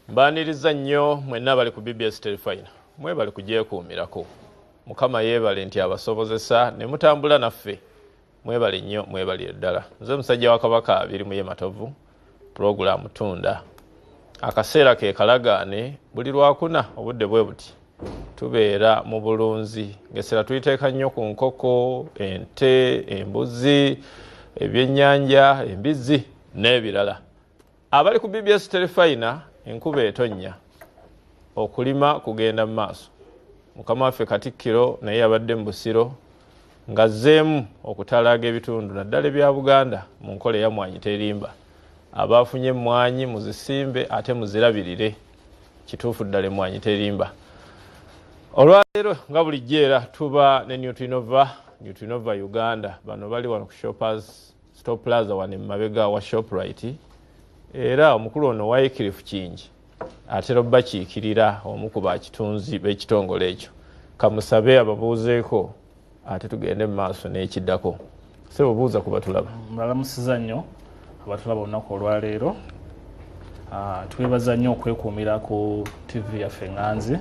Mbaniriza nnyo mwenna abali ku BBS Terefayina mwebale kugyekuumirako. Mukama yeebale nti abasobozesa ne mutambula naffe. Mwebale nnyo mwebalire ddala. Nze musajja wa Kabaka abiri muye Matovu, pulogulaamu Tunda. Akaseera ke kalagaane buli lwakuna obudde bwe buti tubeera mu bulunzi ng'essira tuliteeka nnyo ku nkoko, ente, embuzi, ebyennyanja, embizzi n'ebirala. Abali ku BBS Terefayina enkuba etonnya okulima kugenda mu maaso. Mukama waffe Katikkiro naye yabadde mu Busiro ng'azzeemu okutalaaga ebitundu naddala ebya Buganda mu nkola eyamwanyi terimba. Abaafunye emmwanyi muzisimbe ate muzirabirire. Kituufu ddala emmwanyi terimba. Olwaleero nga bulijjo era tuba ne Newtrinova, Newtrinova Uganda. Bano bali wano ku Shoppers Stop Plaza wano emabega wa Shoprite era omukulu ono Wycliffe Kingi atera obubakiikirira omu ku bakitunzi b'ekitongole ekyo kamusabe ababuuzeeko ate tugende mu maaso n'ekiddako sebo buuza ku batulaba mulamusiza nnyo abatulaba olunaku olwaleero ah, twebaza nnyo okwekuumira ku ttivi yaffe nganzi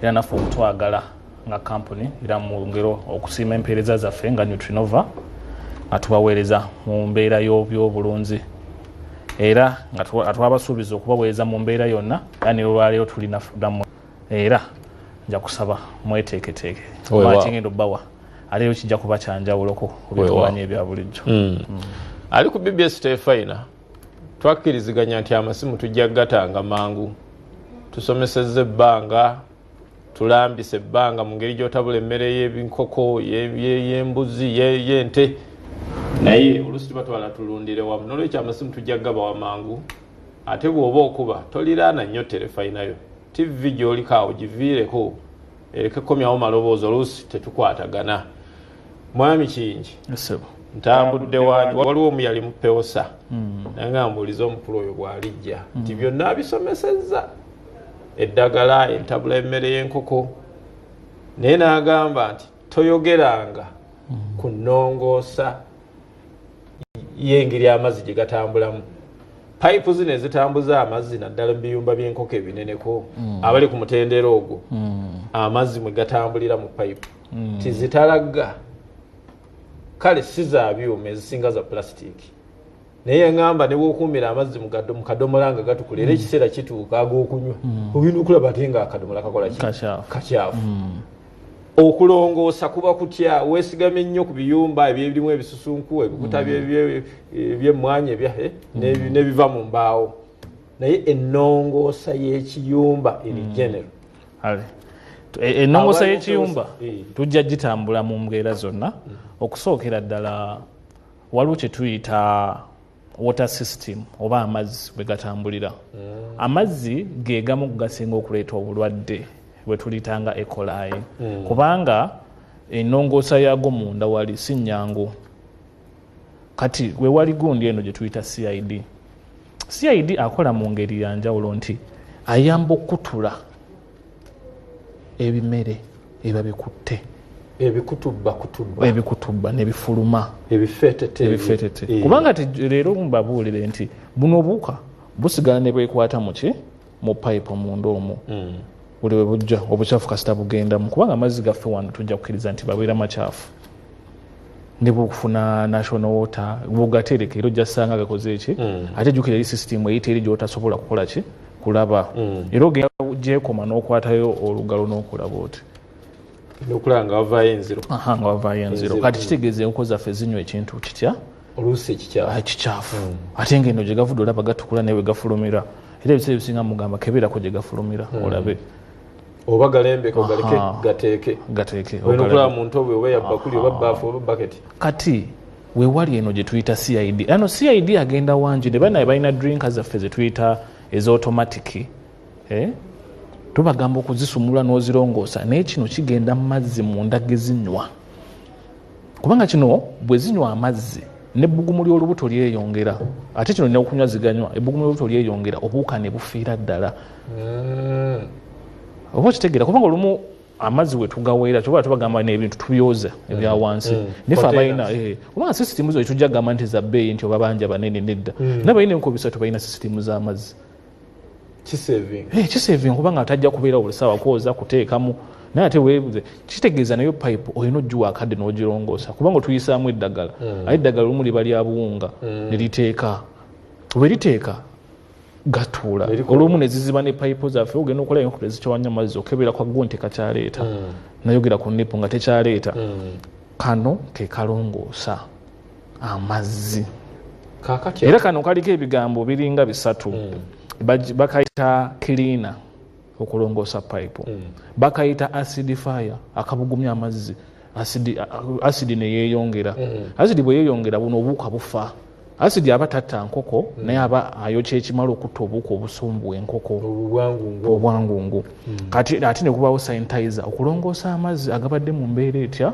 era naffe okutwagala nga kampuni era mu ngero okusiima empeereza zaffe nga nutrinova nga tubaweereza mu mbeera y'obyobulunzi era nga twabasuubiza okubaweereza mu mbeera yonna era ne lwaleero tulina damu era nja kusaba mweteeketeeke matingenda obbawa aleero kijja kuba kyanjawuloko kubituwanya ebya bulijjo hmm. Hmm. ali ku bbs tefayina twakkiriziganya nti amasimu tujja kugatanga mangu tusomeseza ebbanga tulambisa ebbanga mu ngeri gyotabula emmere yebinkoko yembuzi yente naye olusi tuba twala tulundire wamu nolwekyo amasimu tujja gaba wamangu ate bwoba okuba toliraana nnyo terefayinayo tivi gyolikaawo giviireko ereke komyawo maloboozi oluusi tetukwatagana mwami kingi ntambudde wange waliwo omu yali mupewosa hmm. naye nga mbuuliza omukulu oyo bwalijja nti hmm. byonna abisomesezza eddagala entabula emmere y'enkoko naye n'agamba nti toyogeranga ku nnongoosa y'engeri amazzi gye gatambulamu payipu zino ezitambuza amazzi naddala mu biyumba by'enkoko ebineneko mm. abali ku mutendera ogwo mm. amazzi mwe gatambulira mu payipu mm. tizitalagga kale si za byuma ezisinga za pulasitiiki naye yangamba nebwokuumira amazzi mu kadomola nga gatukula era mm. ekiseera kituuka agokunywa mm. ogenda okulaba ate nga akadomola kakola kakyafu mm. okulongoosa kuba kutya wesigame nnyo ku biyumba ebyebirimu ebisusunku ebikuta byemmwanya ebyahe nebiva mu mbaawo naye enongoosa y'ekiyumba eri genero e-, enongoosa y'ekiyumba eh. tujja gitambula mu mbeera zonna okusookera ddala waliwo kyetuyita water system oba amazzi bwe gatambulira mm. amazzi ge gamu gasinga okuleeta obulwadde bwe tuliyita nga ekolayi mm. kubanga enongoosa yaago munda wali si nnyangu kati we wali gundi eno gye tuyita cid cid akola mu ngeri ya njawulo nti ayamba okukutula ebimere eba bikutte ebikutubba nebifuluma ebifeetete eh. kubanga ti leero mbabuulire nti buno obuwuka busigala ne bwekwata muki mu pipe munda omu hmm. buli we bujja obukyafu kasita bugendamu kubanga amazzi gaffe wano tujja kukiriza nti babeera makyafu ne bwokufuna national water bwogatereka era ojja sanga gakoze ki mm. ate jukira eri system eyita eri gyotasobola kukola ki kulaba mm. era ogenda gyekoma n'okwatayo olugalo n'okulaba oti nokulaba nga wavayo enziro aha nga wavayo enziro kati mm. kitegeeza enkoko zaffe zinywa ekintu kitya oluusi ekikyafu ah, ate nga eno gyegavudde olaba gatukula naye wegafulumira era ebiseera ebisinga mugamba kebeerako gyegafulumira olabe oba galembeka ogaleke gateeke gateeke okulaba muntu obwe oba yabbakuli oba baafu oba baketi kati wewali eno gyetuyita cid ano cid agenda wangi ne banaye balina drinka zaffe zetuyita eza automatic eh? tubagamba okuzisumula n'ozirongoosa naye kino kigenda mu mazzi munda gezinywa kubanga kino bwe zinywa amazzi nebbugumu ly'olubuto lyeyongera ate kino nina okunywa ziganywa ebbugumu ly'olubuto lyeyongera obuwuka ne bufiira ddala hmm. oba okitegeera kubanga olumu amazzi wetugaweera kyoba tubagamba nebintu tubyoza mm. ebya wansi mm. nefe abalina eh, kubanga sisitimu zo etujja gamba nti zabbeeyi nti obabanja banene nedda mm. nabalina enkobisa tubalina sisitimu z'amazzi kisaving eh, kubanga atajja kubeera buli sawa kwoza kuteekamu naye ate webuze kitegeeza nayo pipe olina ogiwa akadde n'ogirongoosa kubanga otuyisaamu eddagala mm. aye eddagala olumu liba lya buwunga mm. ne liteeka oba eriteeka gatuula olumu ne ziziba ne pipe zaffe ogenda okola enkula ezikyawanya amazzi okebera kwa gwo nti kakyaleeta mm. nayogera ku nipo nga tekyaleeta kano ke kalongoosa amazzi era kano kaliko ebigambo biringa bisatu mm. bakayita cleaner okulongoosa pipe mm. bakayita acid fire akabugumya amazzi asidi neyeyongera mm. asidi bweyeyongera buno obuuka bufa asidi aba tatta nkoko mm. naye aba ayokya ekimala okutta obuuka obusumbu enkoko obwangungu mm. kati ate nekubawo sanitizer okulongoosa amazzi agabadde mu mbeera etya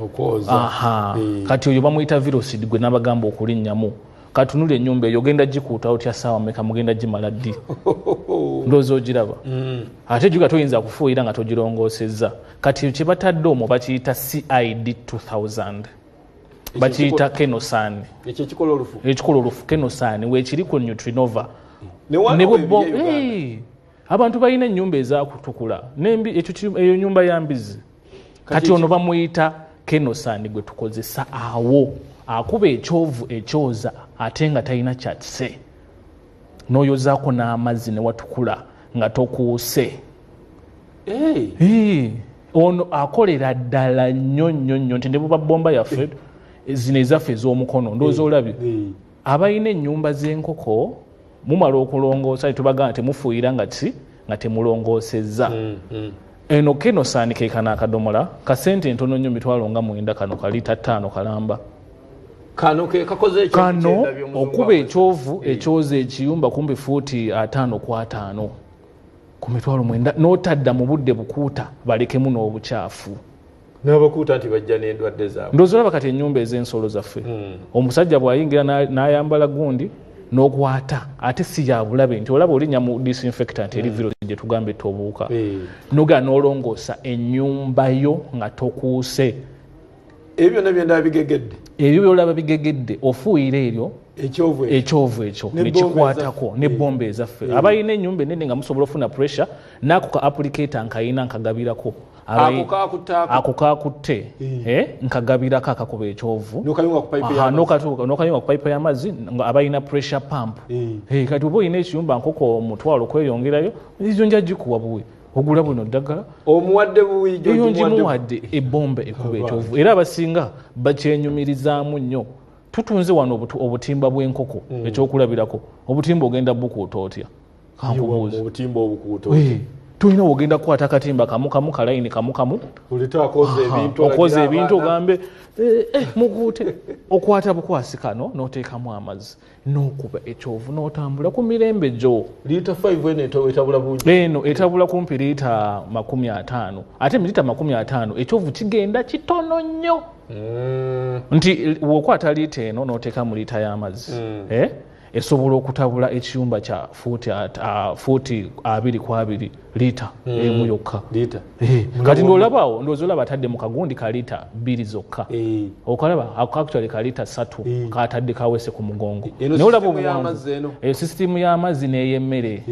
okwoza eh. kati oyo bamuyita virosid gwe nabagamba okulinnyamu katunuli enyumba eyo ogenda gikuuta otya saawa meka mugenda gimala ddi ndoozi ogiraba mm. ate juga toyinza kufuuyira nga togirongosezza kati kyebatadde omwo bakiyita cid 2000 bakiyita kenosan ekikola olufu kenosan wekiri ku nutrinova ne bwebba abantu balina enyumba ezakutukula eyo nyumba ya mbizi kati ono bamuyita kenosani gwe tukozesa awo akuba ekyovu ekyoza ate nga talina kyatise noyozaako n'amazzi newatukula nga tokuuse eh. ono akolera ddala nnyo nnyo nnyo nti ne buba bomba yaffe eh. zino ezaffe ez'omukono ndooza eh. olabye abalina ennyumba z'enkoko mumala okulongoosa netubagana temufuuyira nga ki nga temulongoosezza mm, mm. eno keno saanika ekana akadomola kasente entono nnyo mitwalo nga mwenda kano kali tattaano kalamba kano okuba ekyovu eh. ekyoza ekiyumba kumbi fuuti ataano ku ataano ku mitwalo mwenda n'otadda mu budde bukuuta balekemu n'obukyafu nabakuuta nti bajja nendwadde zaabwe ndozi olaba kati enyumba ez'ensolo zaffe hmm. omusajja bw'ayingira n'ayambala gundi n'okwata ate si yabulabe nti olaba olinya mu disinfectant eri hmm. virusi gye tugamba etta obuwuka hmm. nogaa n'olongoosa ennyumba yo nga tokuuse ebyo byonna byendaba bigegedde ebyo byolaba bigegedde ofuuyira eryo ekyovu ekyo nekikwatako nebomba ezaffe abalina enyumba enene nga musobola ofuna pressure naako ka applicator nkayina nkagabirako ako kakutte eh. eh, nkagabirako akakuba ekyovu nokayunga ku payipu y'amazzi abalina pressure pump eh. kati oba olina ekiyumba nkoko omutwalo kweyongerayo ezo nja gikuwa buwi ogula buno ddagala omuwadde buwiyo ngimuwadde ebomba ekuba ekyovu era abasinga bakyenyumirizaamu nnyo tutunze wano obutimba bw'enkoko mm. ekyokulabirako obutimba ogenda bukuuta otya kankubuuzi obutimba obukuuto tulina ogenda kukwata akatimba kamu kamu kalayini kamu kamu okoza ebintu ogambe eh, eh, muguute okwata bukwasi kano n'oteekamu amazzi n'okuba ekyovu n'otambula ku mirembe gyo eno etabula kumpi liita makumi ataano ate miriita makumi ataano ekyovu kigenda kitono nnyo mm. nti wokwata liita eno n'oteekamu liita y'amazzi mm. eh? esobola okutabula ekiyumba kya fuuti uh, abiri ku abiri liita mm. emu yokka eh, kati ndolabawo ndoozi olaba atadde mu kagundi ka liita bbiri zokka eh. okalaba actually ka liita satu eh. katadde kawese ku mugongo naye olaba obuwanvu sisitimu y'amazzi n'ey'emmere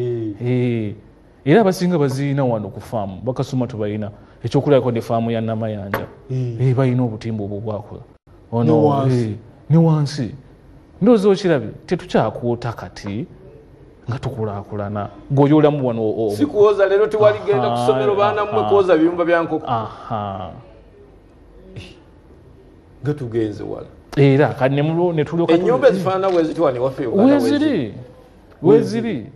era abasinga bazirina wano ku faamu bakasuma tubalina ekyokulabako ne faamu ya namayanja hmm. eh, balina obutimba obwo bwakola ono eh, ne wansi ndoozi okirabye tetukyakuota kati nga tukulakulana gweoyolamu wano sikuwoza lero tewaligenda kusomero baana mwe kuwoza biyumba byankoko nga tugenze wala era kati nemulwo netulyoka enyumba ezifaanana bwezitwani waffe weziri weziri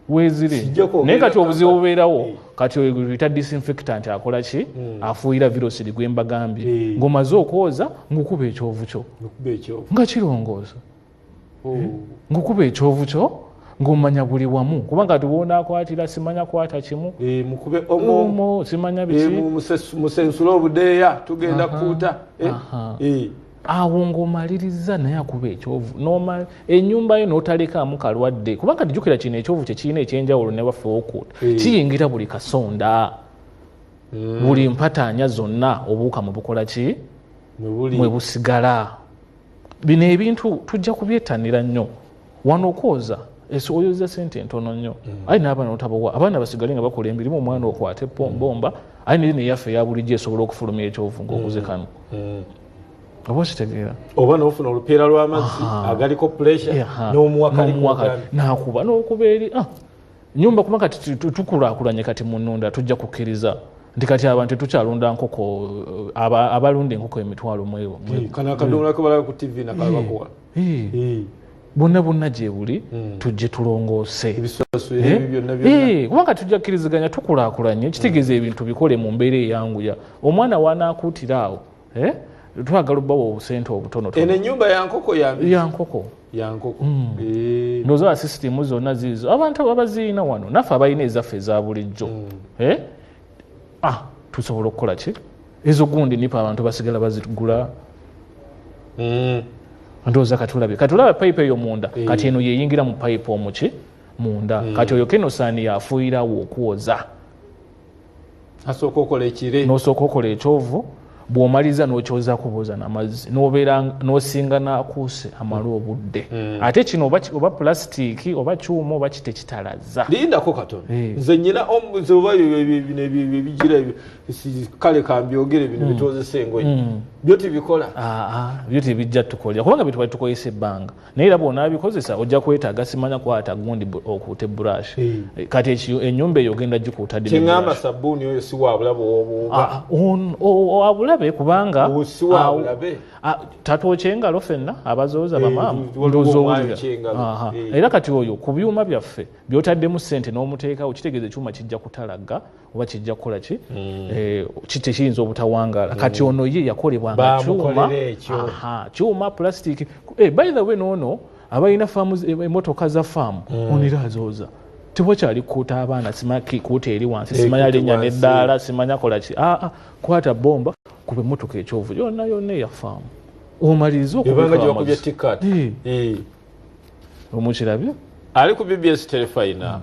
wezire naye kati obuzibu bubeerawo eh. kati oyita disinfectant akola ki hmm. afuuyira virusi ri gwembagambye eh. ngaomaze okwoza ngaokuba ekyovu kyo nga kirongoosa oh. eh? ngaokuba ekyovu kyo ngaomanya buli wamu kubanga tiwonakwatira simanya kwata kimu simanya biki musensula obudeeya tugenda kuuta awo ng'omalirizza naye akuba ekyovu enyumba yo n'otalekaamu kalwadde kubanga tijukira kino ekyovu kyekirina ekyenjawulo ne baffe okut eh. kiyingira buli kasonda hmm. buli mpataanya zonna obuuka mu bukola ki mwe busigala bino ebintu tujja kubyetanira nnyo wano okwoza esi oyoza sente entono nnyo mm. aye n'abaana otabawa abaana basigale nga bakola emirimu omwana mm. okwate eppombomba mm. aye neri neyaffe eyabulijjo esobola okufulumya ekyovu ngaoguze kano oba okitegeera oba nofuna olupiira lw'amazzi agaliko puresha n'omuwakalinakuba n'okuba eri ah, nyumba kuba kati tukulakulanye kati mununda tujja kukkiriza nti kati abantu tetukyalunda nkoko eh, abalunda enkoko emitwalo mwebo kano akadomola kebalaba ku tv nakabakuwa bonna bonna gyebuli hmm. tujje tulongoose eh? eh, kubanga tujja kkiriziganya tukulakulanye kitegeeza hmm. ebintu bikole mu mbeera eyanguya omwana wanaakuutira awo eh? twagala obbawa obusente obutono enyumba yankoko yankoko yankoko hmm. ndoza basisitimu zonna ziizo abantu abaziina wano naffe abalina ezaffe eza bulijjo ah, tusobola okukola ki ezo gundi nipa abantu basigala bazigula mm. ndowooza katulabe katulaba payipu eyo munda mm. kati eno yeyingira mu payipu omuki munda mm. kati oyo kenosaani yafuuyirawo okwoza asooka okola ekire nosooka okola ekyovu bwomaliza nokyoza kubuuza namazzi nobeera nosinga nakuuse amala obudde mm. ate kino oba, oba pulasitiiki oba kyuma oba kite kitalaza lindako katono eh. nze nyina omuze oba ebigira kale kambyogere bino mm. bitwozesa engoye mm. byo tibikola ah, ah. byo tibijja tukolera kubanga byetwali tukozesa ebbanga naye era bwonabikozesa ojja kwetaaga simanya kwata gundi okuute brush eh. kati enyumba eyo ogenda gikuuta dkiŋamba sabuuni oyo si wabulabe ah, wabulabe kubanga ah, tatwokya engalo fenna abazooza eh, bamaama ndooza owulira eh. era kati oyo ku byuma byaffe byotaddemu sente n'omuteekawo kitegeeza ekyuma kijja kutalagga oba kijja kukola ki hmm. eh, kite kiyinza obutawangaala hmm. kati ono ye yakolebwanga kyuma kyuma plastic eh, by the way noono abalina faamu eh, emotoka za faamu hmm. onira azooza tewakyali kukuuta abaana simaki kuuta eri wansi simanya linnya neddaala simanya kola ki aa ah, ah, kwata bomba kuba emotoka ekyovu yonna yonna eyafaamu omaliriza okubika omukirabye ali ku bbs telefayina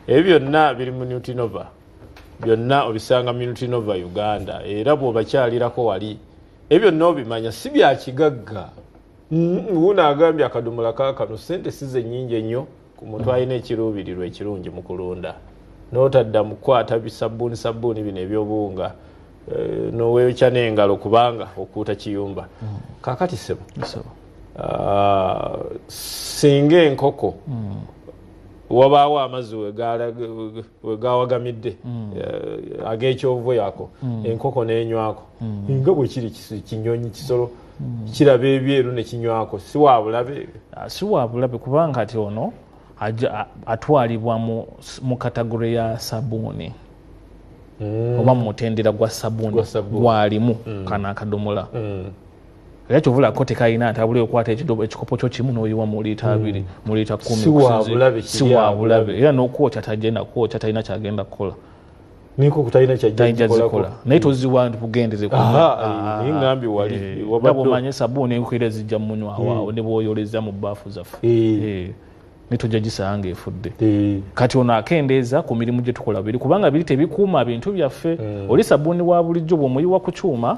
ebyo byonna biri mu nutinova byonna obisanga mu nutinova uganda era bwobakyalirako wali ebyo byonna obimanya si byakigagga wuno agambye akadomola kakano sente size nyingi ennyo ku muntu alina ekiruubirirwa ekirungi mu kulunda n'otadda mu kukwata bisabbuuni sabbuuni bino ebyobuwunga eh, n'oweekya n'engalo kubanga okuuta kiyumba mm. kakati sebo ah, singa enkoko mm. wabaawo amazzi wegawagamidde mm. eh, ag'ekyovu yako enkoko n'enywako nga bwe kiri kinyonyi kisolo hmm. kiraba ebyeru nekinywako siwabulabe ah, siwabulabe kubanga ati ono atwalibwa mu katagore ya sabuuni hmm. oba mumutendera gwa sabuuni gwalimu hmm. kana akadomola era kyovulako tekalina ntabula okwata ekikopo kyo kimu noyiwa muliita hmm. abiri muliita kumi siwabulabe era nokwokya tagenda kwokya talina kyagenda kukola niko kutalina kyajjazikola naye toziwa nti bugendeze ngambye waliomanye eh, sabuuni enkwira zijja munywa hmm. waawo ne bwoyoleza mu baafu zaffe eh. Eh. netujja gisanga efudde kati ono akendeeza ku mirimu gye tukola biri kubanga biri tebikuuma bintu byaffe oli sabuuni wa bulijjo bwomuyiwa ku kyuma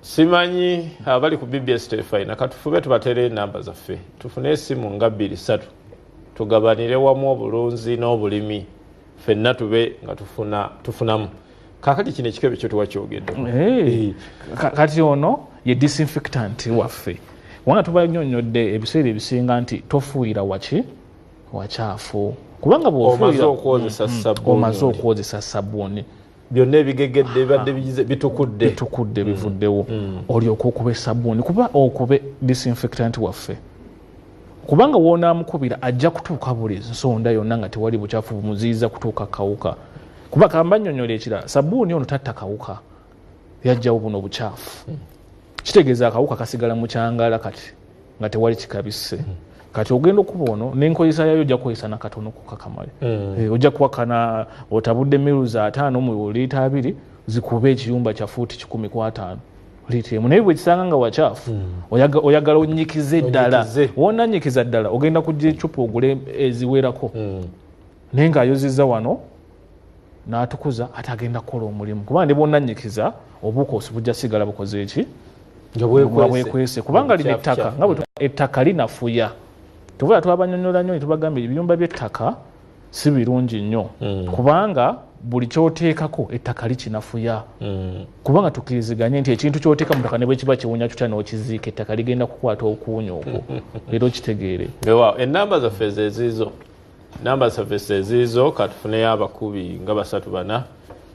simanyi abali ku bbs telefayina katufube tubateera enamba zaffe tufune esimu nga bbiri satu tugabanire wamu obulunzi n'obulimi fenna tube nga tufunamu kakati kino ekikebe kyo tewakyogedde eh, kati ono ye disinfectant waffe kubanga tubanyonyodde ebiseera ebisinga nti tofuuyira waki wakyafu kubanga bwomaze okwozesa mm, mm, sabbuuni byonna ebigegedde bibadde bigize bitukudde bitukudde bivuddewo mm. mm. olyoka okuba esabuuni kuba okube disinfectant waffe kubanga wonaamukubira ajja kutuuka buli nsonda yonna nga tewali bukyafu bumuziyiza kutuuka kawuka kuba kamba nyonyola ekirala sabuuni ono tatta kawuka yajjawo buno bukyafu mm. kitegeeza akawuka kasigala mukyangala kati nga tewali kikabise mm. kati ogenda okuba ono nenkozesa yayo ojja kukozesa nakatono kukakamale mm. eh, ojja kuwakana otabudde miru za ataano mu liita abiri zikuba ekiyumba kya fuuti kikumi ku ataano liita emu naye bwekisanga nga wakyafu mm. oyagala onyikize ddala wona nyikiza ddala ogenda kujja ecupa ogule eziwerako mm. naye nga ayoziza wano natukuza ate agenda kukola omulimu kuba ndi bwonanyikiza obukosi bujja sigala bukoze eki bwekwese kubanga lino ettaka nga bwe ettaka linafuya tuvula twabanyonyola nyo netubagamba ebiyumba byettaka si birungi nnyo mm. kubanga buli kyoteekako ettaka likinafuya mm. kubanga tukiriziganye nti ekintu kyoteeka mutaka ne bwekiba kiwunya tutya n'okiziika ettaka ligenda kukwata okuwunya okwo era okitegeere enamba zaffe zeziizo namba zaffe seziizo katufuneyo abakubi nga basatu bana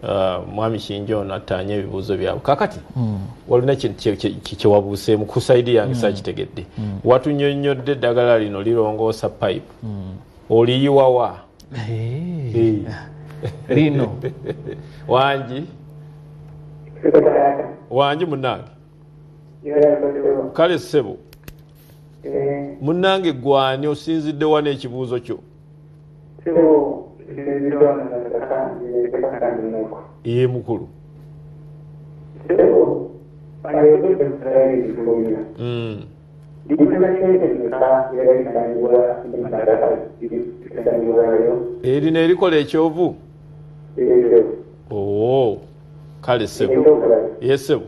uh, mwami kinja ono attaanye ebibuuzo byabwe kakati hmm. walina kyewabuuseemu ku saidi yange hmm. sakitegedde hmm. watunyonnyodde eddagala lino lirongoosa pipe oliyiwawa eh. lino wangi wangi munange kale ssebo munange gwani osinzidde wa n'ekibuuzo kyo ye mukulu erina erikola ekyovu oo kale sebo ye sebo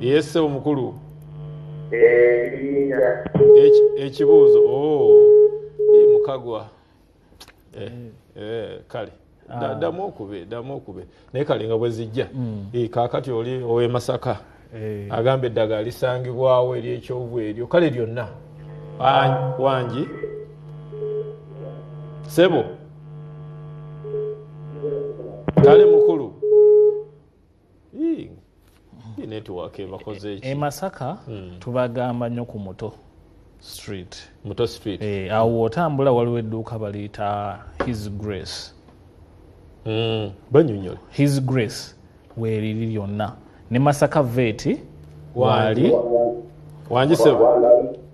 Yes, sebo mukulu. Eh, ekibuuzo oh, eh, mukagwa eh, eh, kale ah. ddamu okube ddamu okube naye kale nga bwe zijja hmm. eh, kaakati oli ow'e masaka agamba eddagala lisangibwawo eri ekyovu eryo kale lyonna wangi sebo kale mukulu emasaka eh, eh, hmm. tubagamba nyo ku muto street muto street eh, awo wotambula waliwo edduuka baliyita his grace hmm, banyonyola his grace weriri lyonna ne masaka veti wali wanjisebo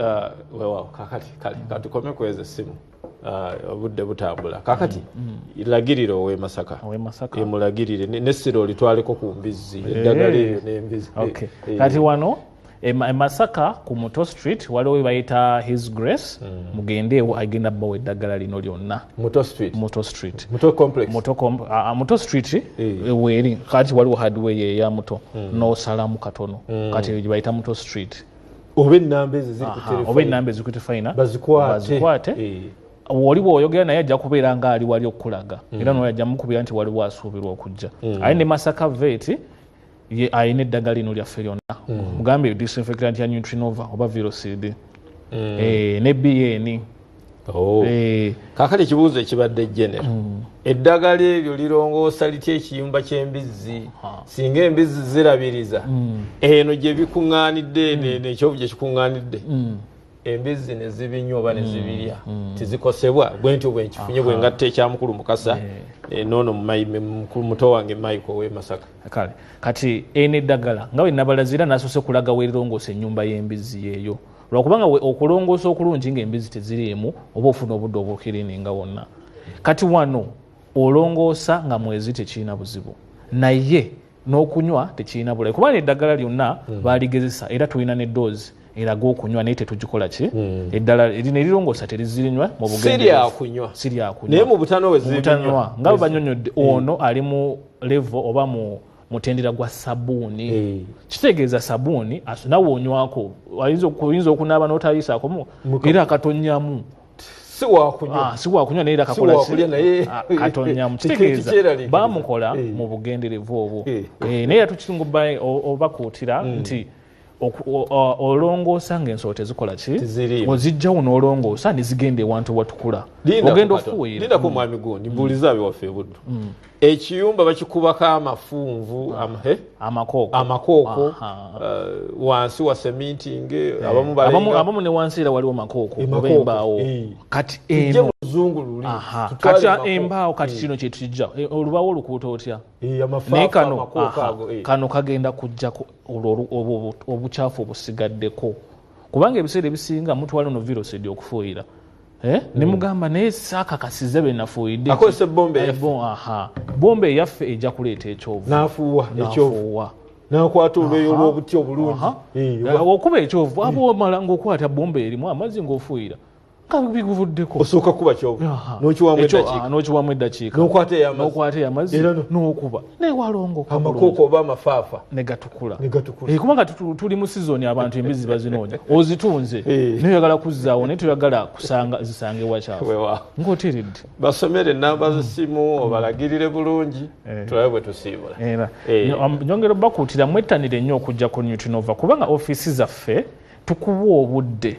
Ah, wewawo kakati katukome kweza essimu ah, obudde butambula kakati mm, mm. lagirira owe masaka emulagirire nessira olitwaleko ku mbizzi eh. eddagala eyo nembizi eh, eh. kati wano emasaka e ku muto street waliwo webayita his grace mm. mugendeewo agenda bawa eddagala lino lyonna muto street muto street muto complex muto, com, uh, muto street e, weeri kati waliwo hardway eya muto mm. nosalamu katono mm. kati bayita muto street oba enamba ezo ziri kuoba enamba eziri kutefaina bazikwate eh. oli bwoyogera naye ajja kubeera nga ali wali okukulaga mm. era noyo ajja mukubira nti waliwo asuubirwa okujja mm. aye ne masaka veti ye alina eddagala lino lyaffe lyonna mm. mugambe disinfectant ya nutrinova oba virocd eh, ne bn Oh. Eh. kakale ekibuuzo ekibadde genero mm. eddagala eryo lirongoosa litya ekiyumba ky'embizzi singa embizzi zirabiriza mm. eno gye bikuŋŋaanidde mm. nekyovu gye kikuŋŋaanidde embizzi ne zibinywa oba ne zibirya tizikosebwa bwe ntyo bwe nkifunye bwe ngatta ekyamukulu mukasa eh. Eh, noono muto wange mayiko owe masaka kale kati eno eddagala nga bwe nabalazira nasoose kulaga werirongoosa ennyumba y'embizzi yeeyo lwakuba nga okulongoosa okulungi ngaembizi teziriimu oba ofuna obudde obukirininga wonna kati wano olongoosa nga mwezi tekirina buzibu naye n'okunywa tekirina bulayi kubanga eddagala lyonna hmm. baligezesa era tulina ne doozi eraga okunywa naye tetugikola ki hmm. eddala erina erirongoosa terizirinywa mubugendenaye mubutanowenywa nga banyonyodde hmm. ono ali mu levo oba mu mutendera gwa sabuuni eh. kitegeeza sabuuni nawe onywako oyinza okunaaba n'otayisaako era akatonyamu siwakunywa ah, naye era katonyamu ah, kitegeeza bamukola eh. mu bugenderevu obwo eh. naye era tukisinga obakuutira hmm. nti olongoosa nga ensolo tezikola ki ozijjawo nolongoosa nezigenda ewantu watukula ogenda ofuweerlindako mm. mwami gundi mbuuliza abe waffe ebuddu mm. ekiyumba bakikubako amafunvu ah. eh? amakooko uh, wansi wa seminting eh, eh. abamu ne wansi era waliwo makookooembaawo kati kati embaawo kati kino kyetujja olubawo olukuuta otya naye kano kano kagenda kujjako obukyafu obusigaddeko kubanga ebiseera ebisinga mutwala no virusi edi okufuuyira eh? hmm. nemugamba naye sakakasiza benafuuyiddebomba eyaffe eja kuleeta ekyovunafuuwa nakwata olweyo lwobuti obulungi eh, okuba ekyovu aba omala ngaokwata bomba erimu amazzi ngaofuuyira biguvuddeko osooka kuba kyonokiwamu eddakiikanokwata eyamazzi ah, nokuba naye walongoamakooko oba amafaafa negatukula eh, kubanga tuli mu sizoni abantu embizi bazinoonya ozitunze eh. naye oyagala kuzzaawo naye toyagala kusanga zisange wakyafu ngaoteredde basomere enamba zisimu mm. obalagirire bulungi eh. tulabe bwe tusiibula nyongera obakuutira mwettanire nnyo okujja ku newtonova kubanga ofiisi zaffe tukuwa obudde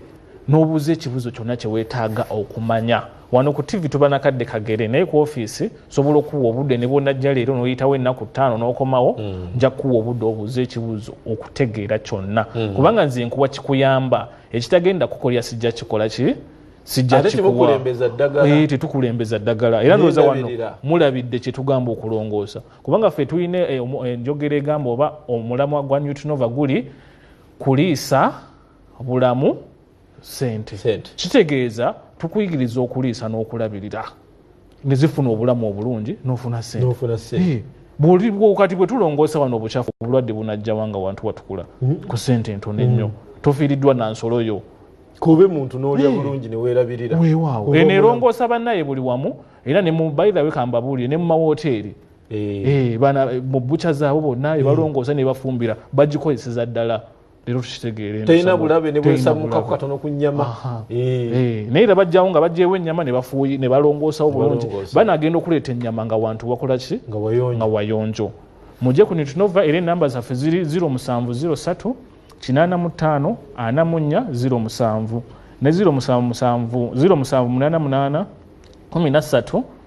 n'obuuza ekibuzo kyonna kye weetaaga okumanya wano ku tivi tuba nakadde kagere naye ku ofiisi sobola okuwa obudde ne bwonajja leero noyitawo ennaku ttaano n'okomawo mm. nja kuwa obudde obuuza ekibuuzo okutegeera kyonna mm. kubanga nze nkuwa kikuyamba ekitagenda kukolya sijja kikola ki tetukulembeza eh, ddagala era ndowooza wano mulabidde kyetugamba okulongoosa kubanga ffe tulina eh, eh, enjogera egamba oba omulamwa gwa newtonova guli kuliisa bulamu sente kitegeeza tukuyigiriza okuliisa n'okulabirira ne zifuna obulamu obulungi n'ofuna sente kati bwe tulongoosa wano obukyafu obulwadde bunajjawa nga wantu watukula hmm. ku sente entono ennyo hmm. tofiiriddwa na nsolo yo kube muntu n'olya eh. bulungi ne weerabirira weewaawo eno erongoosa bannaye buli wamu era ne mu bayirawe kambabuulire ne mu mawooteeri eh. Eh, bana mu bucha zaabo bonna ebalongoosa nebafumbira bagikozeseza ddala leero tukitegeere talina bulabe nebwesamukaku katono ku nyama eh. eh, naye era bajjawo nga bajjewo ennyama nebafuuyi nebalongoosawo bulungi banagenda okuleeta ennyama nga wantu wakola ki nga wayonjo mujje ku nitunova era enamba zaffe ziri 0703 85 44 07 ne 07 08 83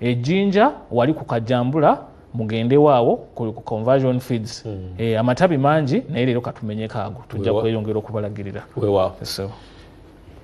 ejinja wali ku kajambula mugendewo awo ku conversion feeds hmm. eh, amatabi mangi naye leero katumenyeko ago tujja kweyongera okubalagirira wewa so.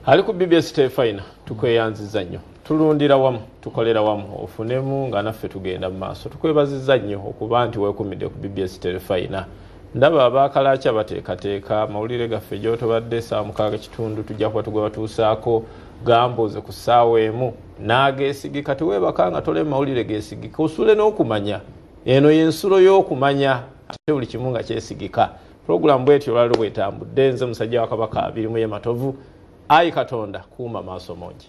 ali ku bbs tefina tukweyanziza nnyo tulundira wamu tukolera wamu ofunemu nga naffe tugenda mu maaso tukwebaziza nnyo okuba nti wekumidde ku bbs tefina ndaba abakalaki abateekateeka amawulire gaffe gyotobadde saa mukaaga kitundu tujja kuba tugwe batuusaako gambuuze ku ssaawa emu n'ageesigika teweebaka nga tole mawulire geesigika osule n'okumanya eno y'ensulo y'okumanya ate buli kimu nga kyesigika pulogulaamu bwetyo olwaliro bwetambudde nze musajja wa kabaka abirimu ye matovu ayi katonda kuuma maaso mungi